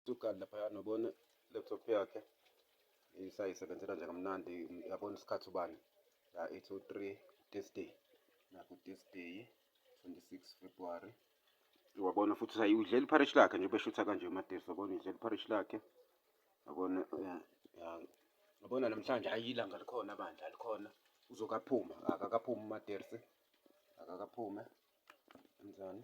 Sugard laphaya nobona laptop yakhe isayisebenzela nje kamnandi yabona isikhathi ubani ya ithi u-3 this day naku this day 26 February wabona futhi ukuthi udlela ipharish lakhe nje ubeshutha kanje uMadesu wabona udlela ipharish lakhe yabona yabona namhlanje hayi ilanga likhona bandla likhona uzokaphuma akakaphumi uMadesu akakaphume kanjani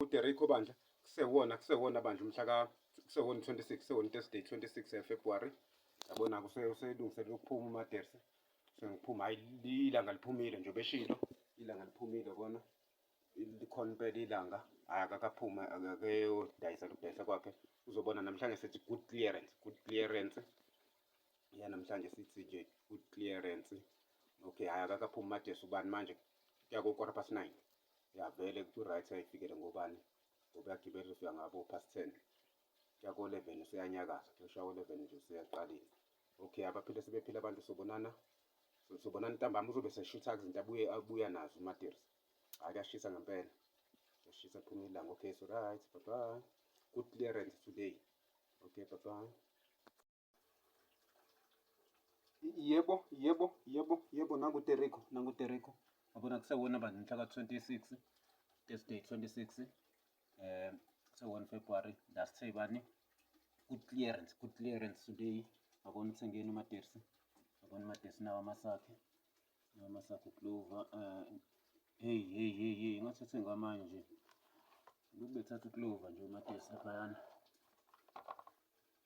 UDerrick Obandla kusewona kusewona bandla umhla ka kusewona 26 kusewona Thursday 26 February yabona kuselungiselela ukuphuma uMaderse sengiphuma hayi ilanga liphumile nje beshilo ilanga liphumile kona likhona impela ilanga hayi akakaphuma akeyodayisa lokudayisa kwakhe uzobona namhlanje sithi good clearance good clearance ya namhlanje sithi nje good clearance okay hayi akakaphumi uMaderse ubani manje kuya ko-quarter past nine Yavele kuthi uright ayifikele ngobani ngoba yagibela ufika ngabo past ten yako eleven useyanyakaza kushawa eleven nje useyaqalile okay abaphile sebephile abantu sobonana sobonana ntambama uzobe seshutha izinto abuye abuya nazo umatires hhayi kuyashisa ngempela kuyashisa phuma ilanga okay so right bye bye good clearance today okay bye bye Yebo, yebo, yebo, yebo nangu Tereko, nangu Tereko. Yabona kusewona manje mhla ka-26 this day 26 um eh, se-1 February last say bani good clearance good clearance today ngabona uthengeni umatersi ngabona umatersi nawo amasakhe nawo amasakhe uklova um eh, heyi heyi heyi heyi ngathi uthenge amanye nje lokhu bethatha uklova nje umatersi laphayana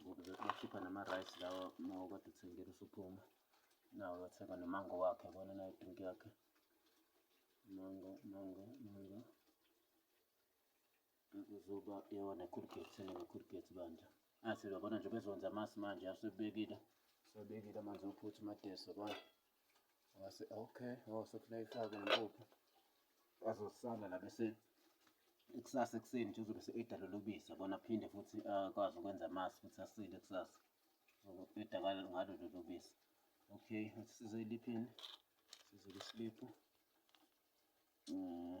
ngoba bethi bakhipha nama-rice lawa uma ukade uthengile usuphuma nawo uyothenga nomango wakhe yabona nayo drink yakhe mango mango mango uzoba yona ekhulugate sene ngekhulugate bandla athi uyabona nje bezonza amasi manje asebekile sebekile amanzi ophutha umadeso yabona Wase okay, oh sekufuneka ifake impuphu. Azosala la bese ikusasa ekuseni nje uzobe se-eda lolu bisi yabona aphinde futhi akwazi ah, ukwenza amasi futhi asile kusasa. Uzoqeda ngalo ngalo lolu bisi. Okay, athi size iliphini. Size lisiliphu. Mm.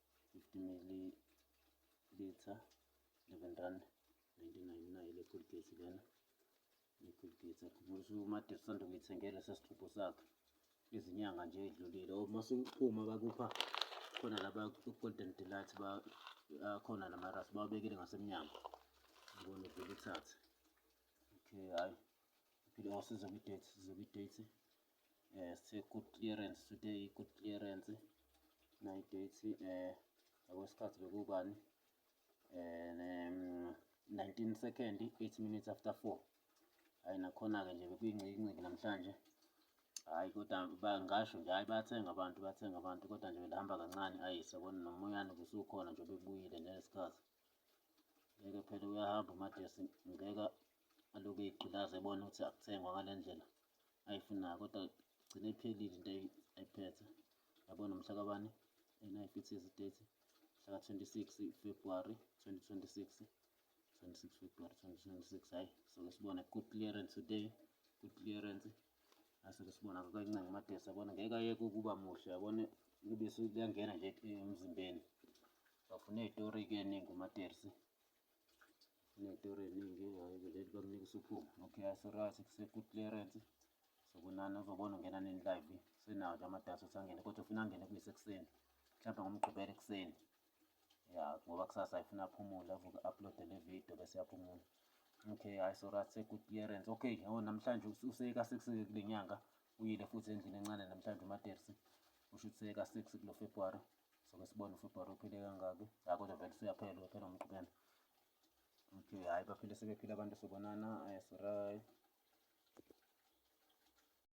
50 milliliter 11 rand 1999 le Colgate lena le Colgate akhumbulisa uMade usanda kuyithengela sesixubho sakhe izinyanga nje edlulile uma siphuma bakupha khona laba Golden Delight ba khona namaras bawabekile ngasemnyango ngibona uvele uthathe okay hayi phile wasiza kwi-date siza kwi-date eh si good clearance today good clearance nayi date eh ngokwesikhathi bekubani and um, 19 second 8 minutes after 4 hayi nakhona-ke nje bekuyingcikinciki namhlanje hayi kodwa ngasho nje hayi bathenga abantu bathenga abantu kodwa nje belihamba kancane ayi sabona nomoyane kusukhona nje bebuyile ngesikhathi ngeke phela uyahamba umadesi ngeke aloku eyigqilaza ebona ukuthi akuthengwa ngale ndlela ayifunayo kodwa gcine iphelile into ayiphethe yabo nomhla kabani and I fit as date mhla 26 February 2026 26 February 2026 hayi soke sibona good clearance today good clearance asoke sibona kancane amadesi yabona ngeke ayeke ukuba muhle yabona ubisi liyangena nje emzimbeni bafuna izitori ke ningi umatersi inedoro eningi vele bakunika usuphuma okay asorathi kuseku-clearance sokunani uzobona ungena nini live senawo nje amadata ukuthi angene kodwa ufuna angene kuyise ekuseni mhlawumbe ngomgqibela ekuseni ya ngoba kusasa ayifuna aphumule avuke uploade le video bese yaphumula okay hayi sorathi seku-clearance okay yabo namhlanje useka sekuseke kule nyanga Uyile futhi endlini encane namhlanje uMatersi. Usho ukuthi seyeka six kulo February. Soke sibone uFebruary uphile kangaki. Hhayi kodwa vele usuyaphela uyaphela umqhubela. Okay, hhayi baphile sebephila abantu sobonana. Yes, right.